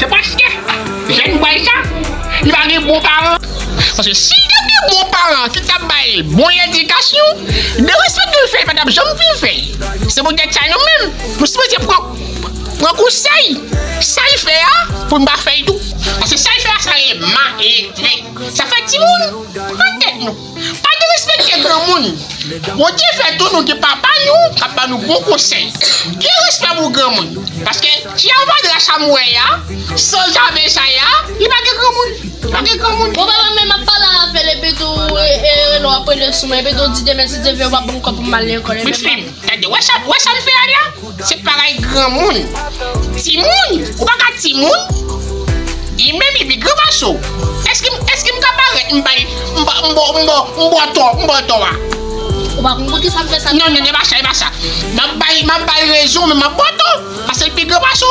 Se paske jèn bay sa, li pa gen bon paran. Paske si li tap gen bon paran ki tap bal bon ledikasyon, dewe sa dwe fè li pa tap janm vin fè. Se pou tèt sa nou menm nou sipoze pran pran konsèy, sal fè a pou nou pa fèl tou. Paske sal fè a sa rele maletre. Sa fè timoun pran tèt nou. Pa derespekte granmoun. Bondye fè tou nou gen papa nou kap ba nou bon konsèy. Gen respè pou granmoun. Paske Tia Vadra sa m wè ya, san zave sa ya, li pa gen granmoun. Li pa gen granmoun. Bon papa menm ap pale avèl epitou reno ap rele sou mwen epitou di demen si Dye vle ou pa banm kòb poum al lekòl epi m pa Bifim tande wè sa wè sa m fè a la. Se bagay granmoun. Timoun? Ou pa ka timoun? Li menm epi gran macho. Eske m eske m ka parèt m bay m ba m bo m bo m bo to m bo to a? Ou pa konn poukisa m fè sa? Non non e pa sa e pa sa. M ap bay m ap bay rezon men m ap bo to paske l pi gran macho.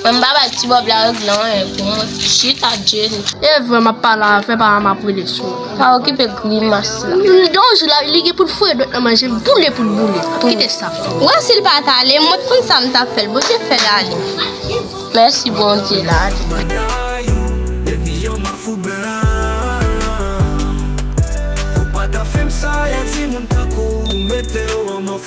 Mwen pa bay ti bob la règle lan anyen pou mwen. Chita Jenny. Evre map pale avè pa map rele sou ou. Pa okipe grimas la. Don jou la li gen poul foye dwèt nan manje l boule poul boule. Kite sa. Ou wè sil pat ale mwen t konn sam tap fèl Bondye fèl ale. Mèsi Bondye l ale.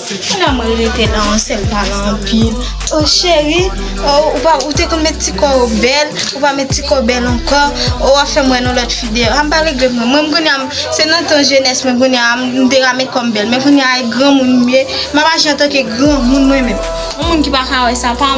Kounya mwen rete nan yon sèl talan anpil oh cheri oh ou te konn met ti kòw bèl ou pa met ti kòw bèl ankò oh wap fèm wè nan lòt fi deyò a m pa regrèt mwen menm kounya se nan tan jenès mwen kounya m te ka met kòm bèl men kounya e granmoun m ye m ap aji antanke granmoun mwen menm yon moun ki pa ka wè sa pa.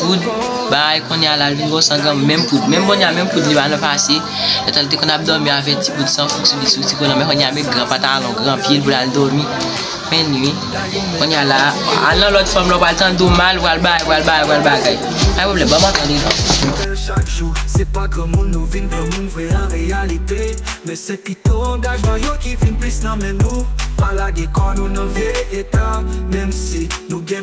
poud bagay konnya lal vin bon sangan menm poud menm konnya menm poud li pa nan pase etan li te konn ap domi avè ti poud san fouk sou li sou ti kolan men konnya met gran patalon gran pyel pou lal domi menn ui konnya la al nan lòt fanm la ou pral tande ou mal ou pral bagay ou pral bagay ou pral bagay pa gen pwoblèm banm antan li non.